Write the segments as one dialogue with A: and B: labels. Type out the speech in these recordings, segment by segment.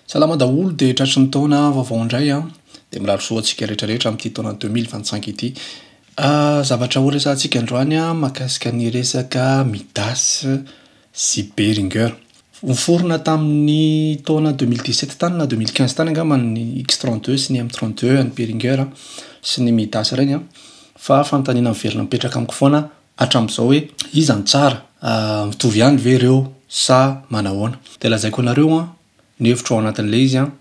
A: Salama daholo dia tratry ny taona vaovao indray an! Dia mirary soa ho antsika rehetra rehetra amin'ity taona deux mille vingt cinq ity. Zavatra ho resahantsika androany an, mahakasika ny resaka Midas sy Behringer. Noforona tamin'ny taona deux mille dix sept tany na deux mille quinze tany angamba ny X trente deux sy ny M trente deux an'i Behringer sy ny Midas ireny an! Fa fanontaniana miverina mipetraka amiko foana an! hatramin'izao hoe iza no tsara, mitovy ihany ve ireo sa manahoana. Dia lazaiko anareo an, ny hevitro ao anatin'ilay izy an,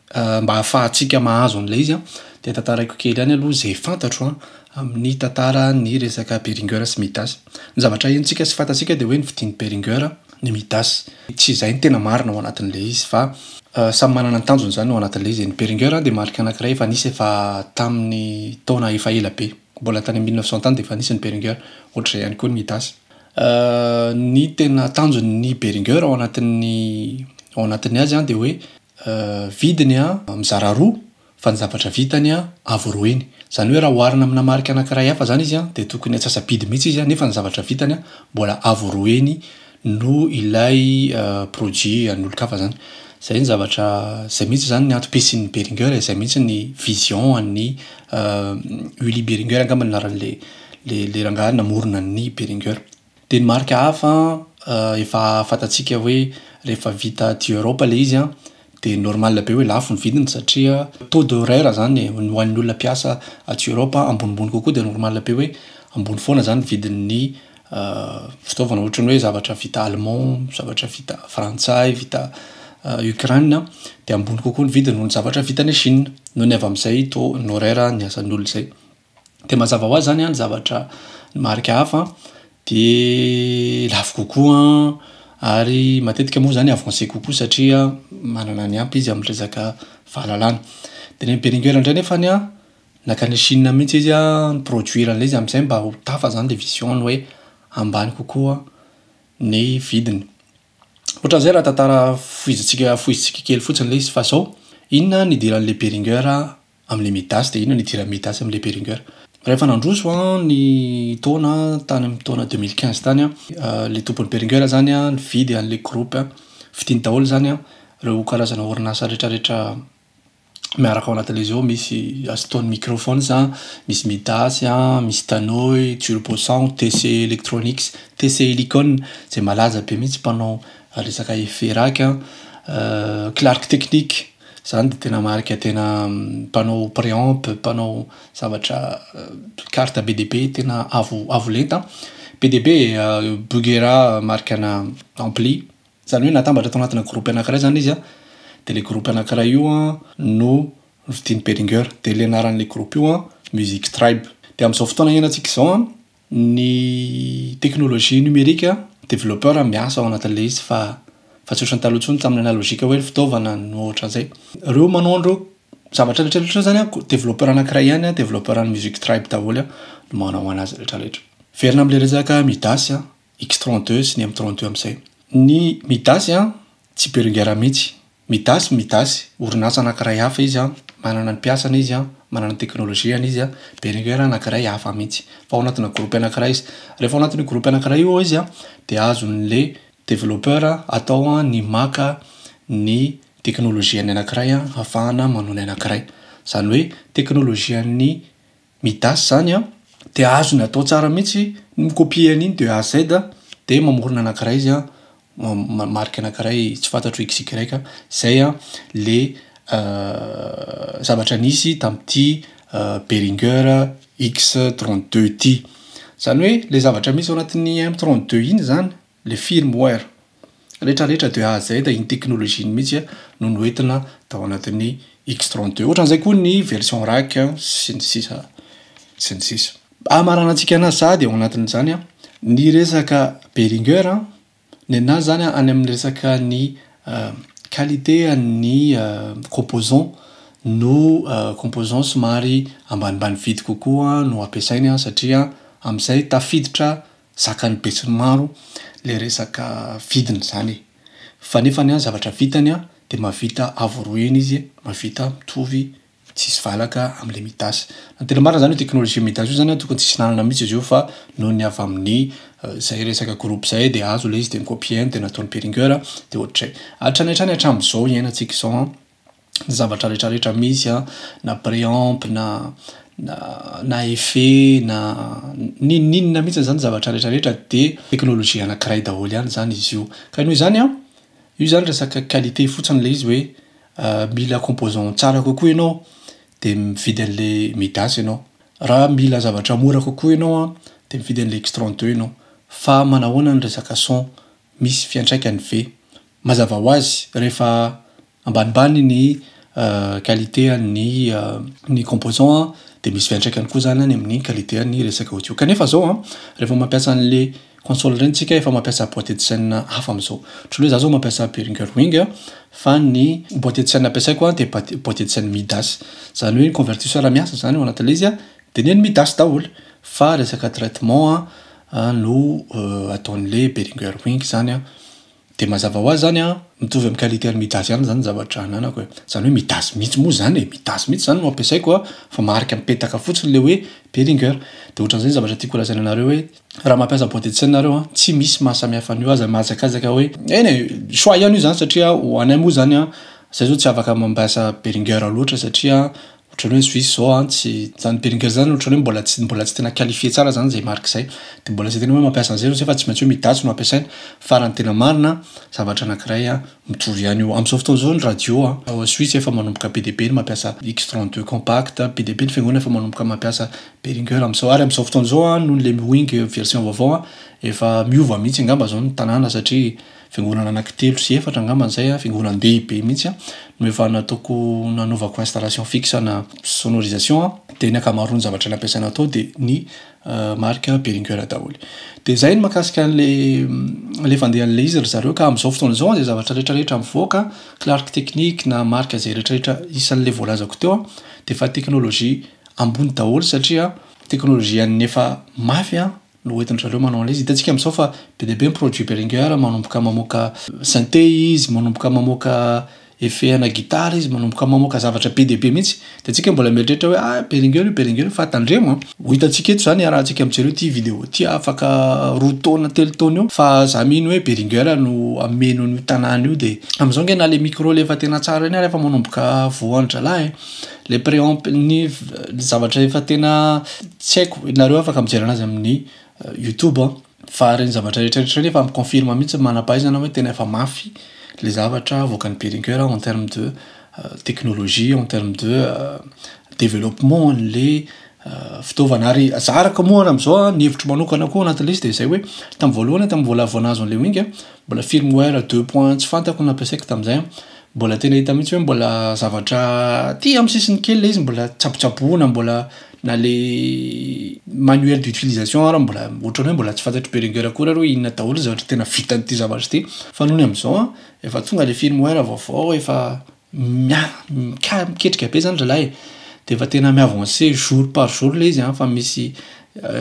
A: mba hahafahantsika mahazo an'ilay izy an, dia tantaraiko kely ihany aloha izay fantatro an, amin'ny tantaran'ny resaka Beringer sy Midas. Ny zavatra henontsika sy fantatsika dia hoe ny fidin'i Beringer ny Midas. Tsy izay no tena marina ao anatin'ilay izy fa samy manana ny tanjony izany ao anatin'ilay izy e. Ny Beringer dia marika anankiray efa nisy efa tamin'ny taona efa ela be. Mbola tany amin'ny mille neuf cent tany dia efa nisy ny Behringer, ohatr'izay ihany koa ny Midas. Ny tena tanjon'ny Behringer ao anatin'ny ao anatin'ny azy dia hoe vidiny mizara roa fa ny zavatra vitany avo roa eny. Izany hoe raha oharina amina marika anankiray hafa izany izy dia tokony antsasa-bidy mihitsy izy nefa ny zavatra vitany mbola avo roa eny noho ilay produit an'olon-kafa zany. Zay ny zavatra, zay mihitsy zany ny antom-pisian'ny Behringer e, zay mihitsy ny vision an'ny Ueli Behringer angamba ny anaran'le le le rangahy namorona an'ny Behringer. De ny marika hafa an, efa fantatsika hoe rehefa vita aty Europe le izy an, Dia normal be hoe lafo ny vidiny satria taux de horaire izany e, ny ho an'ny olona mpiasa aty Europe an, ambonimbony kokoa dia normal be hoe ambony foana izany ny vidin'ny fitaovana ohatran'ny hoe zavatra vita allemand, zavatra vita frantsay, vita Ukraine an, dia ambony kokoa ny vidiny noho ny zavatra vita any Chine, noho ny avy amin'izay taux horaire ny asan'ny olona izay. de mazava hoazy zany ny zavatra ny marika hafa de lafo kokoa ary matetika moa zany avancé kokoa satria manana ny ampy izy amin'ny resaka fahalalana de ny an'i Behringer ndray nefany an nankany Chine mihintsy izy an ni-produire an'ilay izy amizay mba ho tafa zany le vision-ny hoe ambany kokoa ny vidiny otran'izay raha tantara fohizintsika fohizintsika kely fotsiny le izy fa zao inona nidiran'le Behringer Amin'ilay Midas dia inona ny idiran'ny Midas amin'ilay Beringer? Rehefa nandroso an ny taona tany amin'ny taona deux mille quinze tany an, ilay tompony Beringer zany an nividy an'ilay groupe an, vidiny daholo zany an ireo karazana orinasa retraretra miaraka ao anatin'izy ao misy Astone microphones an, misy Midas an, misy Danoy, Turbo sound, TC electronics, TC helicon izay malaza be mihintsy mpanao resaka efe rack an, Clark technique. Izany dia tena marika tena mpanao préamp, mpanao zavatra carte be dia be, tena avo avo lenta. Be dia be Bugera marika ana ampli. Izany hoe natambatra tao anatina groupe anakiray izany izy an, dia ilay groupe anakiray io an no novidian'i Beringer. Dia ilay anaran'ilay groupe io an Music Tribe. Dia amin'izao fotoana iainantsika izao an. Ny teknolojia nomerika, developpeur miasa ao anatin'ilay izy fa fa tsy ohatran'ny taloha intsony tamin'ny analogique hoe ny fitaovana no ohatran'izay. Ireo manao an'ireo zavatra rehetra rehetra ireo zany an, developpeur anankiray ihany an, developpeur an'ny music tribe daholo an, no manao anazy rehetra rehetra. Miverina amin'ilay resaka Midas, X-32 sy ny M-32 amin'izay. Ny Midas an, Tsy Berengera mihitsy. Midas Midas, orinasa anankiray hafa izy an, manana ny mpiasany izy an, manana ny teknolojiany izy an, Berengera anankiray hafa mihitsy. Fa ao anatina groupe anankiray izy. Rehefa ao anatin'io groupe anankiray io izy an, dia azon'le developpeur atao an ny maka ny teknolojian'ny anankiray an hafahana manao ny anankiray. Zany hoe teknolojian'ny Midas zany an, de azony atao tsara mihitsy ny mi-copier an'iny de A à Z de mamorona anankiray izy an, ma- marika anankiray tsy fantatro XY zay an le zavatra nisy tamin'ity Behringer X trente deux ity. Zany hoe le zavatra misy ao anatin'ny M trente deux iny zany Le firmware rehetra rehetra de A à Z iny teknolojiany mihitsy no noentina tao anatin'ny X-tron deux. Ohatran'izay koa ny version rack sy ny sisa sy ny sisa. Hamaranantsika anazy sahady ao anatin'izany ny resaka Behringer ny anazy izany any amin'ny resaka ny qualité an'ny composant no composant somary ambanimbany vidy kokoa no ampiasainy satria amin'izay tafiditra Zakan'ny besinimaro le resaka vidiny izany e. Fa nefany an zavatra vitany an dia mahavita avo roa heny izy mahavita mitovy tsisy valaka amin'ilay midas. Raha tena marina izany io teknolojia midas io zany an tokony tsisy lalana mihitsy izy io fa noho ny avy amin'ny izay resaka groupe izay dia azo ilay izy dia nokopien dia nataony peringueur dia ohatr'izay. Hatrany hatrany hatramin'izao hiainantsika izao an ny zavatra rehetra rehetra misy an, na préamp na na effet na n'inona n'inona mihitsy izany zavatra rehetra rehetra dia teknolojia anakiray daholo ihany izany izy io. Ka noho izany an, io izany resaka qualité fotsiny ilay izy hoe mila composant tsara kokoa ianao dia mividy an'ilay midas ianao. Raha mila zavatra mora kokoa ianao an, dia mividy an'ilay x trente deux ianao. Fa manahoana ny resaka son? Misy fiantraikany ve? Mazava ho azy, rehefa ambanimbany ny qualité an'ny ny composant an, dia misy fiantraikany koa izany any amin'ny qualité an'ny resaka audio. Kanefa izao an, rehefa mampiasa an'le console ireny tsika efa mampiasa boite de chaine hafa amin'izao. Ohatran'ny hoe za zao mampiasa Behringer Wing fa ny boite de chaine ampiasaiko an dia bati- boite de chaine Midas. Izany hoe ny convertisseur miasa izany ao anatin'le izy an, dia nen'ny Midas daholo. Fa resaka traitement an no ataon'le Behringer Wing izany an. Dia mazava ho azy izany an, mitovy amin'ny qualité an'ny Midas ihany izany ny zavatra ananako e. Izany hoe Midas mihitsy moa izany e, Midas mihitsy izany no ampiasaiko an, fa marika mipetaka fotsiny ilay hoe Behringer. Dia ohatran'izay ny zavatra tiako holazaina anareo hoe raha mampiasa boîte de tsena nareo an, tsy misy mahasamihafa an'io, aza mahazakazaka hoe eny e, choix ihany io izany satria ho anay moa izany an, izahay izao tsy afaka mampiasa Behringer loatra satria Ohatran'ny hoe Suisse zao an, tsy, zany Beringer zany ohatran'ny hoe mbola tsy, mbola tsy tena qualifier tsara zany zay marque zay. De mbola tsy de tena hoe mampiasa an'zay zao fa tsy maintsy hoe midatsy no ampiasaina. Fa raha ny tena marina an, zavatra anankiray an, mitovy ihany io. Am'zao fotoana zao ny radio an, ao Suisse efa manomboka be dia be ny mampiasa X trente deux compact, be dia be ny fiangonana efa manomboka mampiasa Beringer am'zao. Ary am'zao fotoana zao an, noho ny Lemwing version vaovao an, efa miova mihitsy angamba zao ny tanàna satria, Fiangonana anankitelo sy efatra angamba izay, fiangonan-dehibe mihitsy an, no efa nataoko, nanaovako installation fixe ana sonorisation an, dia ny ankamaroan'ny zavatra nampiasaina tao dia ny marika Behringer daholo. Dia izay ny mahakasika an'ilay ilay fandehan'ilay izy ry zareo ka amin'izao fotoana izao an, izay zavatra rehetrarehetra mivoaka, clark technique na marika izay rehetrarehetra isan'ilay voalazako teo an, dia efa teknolojia ambony daholo satria teknolojian'ny efa mafy an. no entin-dry zareo manao an'ilay izy. Hitantsika amin'izao fa be dia be ny produits Behringer, manomboka mamoaka synthé izy, manomboka mamoaka effet ana guitare izy, manomboka mamoaka zavatra be dia be mihitsy. Dia antsika mbola mieritreritra hoe ah, Behringer io, Behringer io, fa tandremo an! Ho hitantsika eto izany iarahantsika mijery ity vidéo ity afaka roa taona, telo taona eo fa izaho mino hoe Behringer no hameno an'io tanàna io dia amin'izao ange na ilay micro ilay efa tena tsara iny ary efa manomboka voa andry zalahy e! Le préamp ny zavatra efa tena tsy haiko nareo afaka mijery anazy amin'ny youtube an fa reny zavatra rehetra rehetra reny efa mi confirme mihitsy ny manampahaizana hoe tena efa mafy le zavatra avoakan'i Behringer en terme de technologie en terme de développement an'le fitaovana ary zariko moa ary am'zao an ny hevitro manokana koa anatin'le izy de zay hoe tam voalohany tam vola vao nahazo an'le wing an mbola firmware deux points tsy fantako nampiasaiko tam'zay an Mbola tena hita mihitsy hoe mbola zavatra aty amin'ny sisiny kely ilay izy mbola tsabotsaboina mbola na le manuel d'utilisation ary mbola ohatran'ny hoe mbola tsy fantatr'i Beringer akory ary hoe inona daholo ny zavatra tena vitan'ity zavatra ity fa nony amin'izao an, efa tonga ilay firmware vaovao efa mia- mika- miketrika be izany zalahy e, dia efa tena mi-avancer jour par jour ilay izy an, efa misy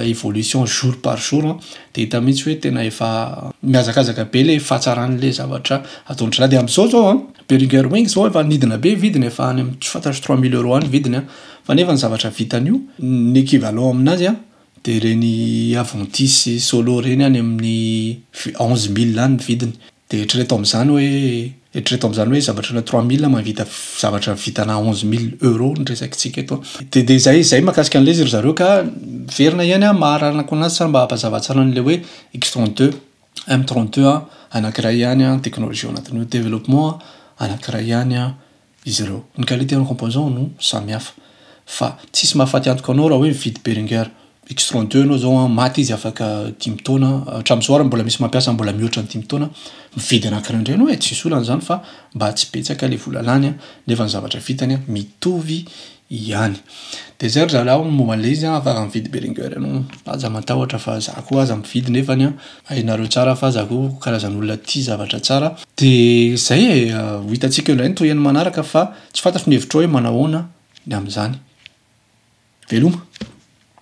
A: évolution jour par jour de hita mihitsy hoe tena efa mihazakazaka be le fahatsarany le zavatra ataondry zalahy de amizao zao an Behringer wings zao efa nidina be vidiny efa any tsy fantatro trois mille euros any vidiny an fa nefa ny zavatra vitany io ny équivalent aminazy an de ireny aventis sy solo ireny any amin'ny onze mille any ny vidiny Dia eritrereto amin'izany hoe, eritrereto amin'izany hoe zavatra na trois mille mahavita zavatra vitana onze mille euros ny resakintsika eto an. Dia dia zay zay mahakasika an'ilay izy ry zareo ka miverina ihany aho maharanako anazy sa mba hampazava tsara an'ilay hoe X trente deux, M trente deux an, anankiray ihany an, teknolojia ao anatin'io, développement an, anankiray ihany an, izy ireo. Ny qualité en composant no samy hafa. Fa tsisy mahafaty antoka anao raha hoe mividy Behringer X trente deux ianao zao an, maty izy afaka dimy taona, hatramin'izao ary mbola misy mampiasa mbola mihoatra ny dimy taona, mividy anankiray indray ianao e, tsisy olana izany fa mba tsy betsaka ilay vola lany an, nefa ny zavatra vitany an mitovy ihany. Dia izay ry zalahy ny momba an'ilay izy an, afaka mividy Behringer ianao an, aza matahotra fa za koa aza mividy nefany an, hainareo tsara fa za koa karazan'olona tia zavatra tsara. Dia izay e, ho hitantsika indray ny tohiny manaraka fa tsy fantatro ny hevitrao hoe manao ahoana ny amin'izany. Veloma.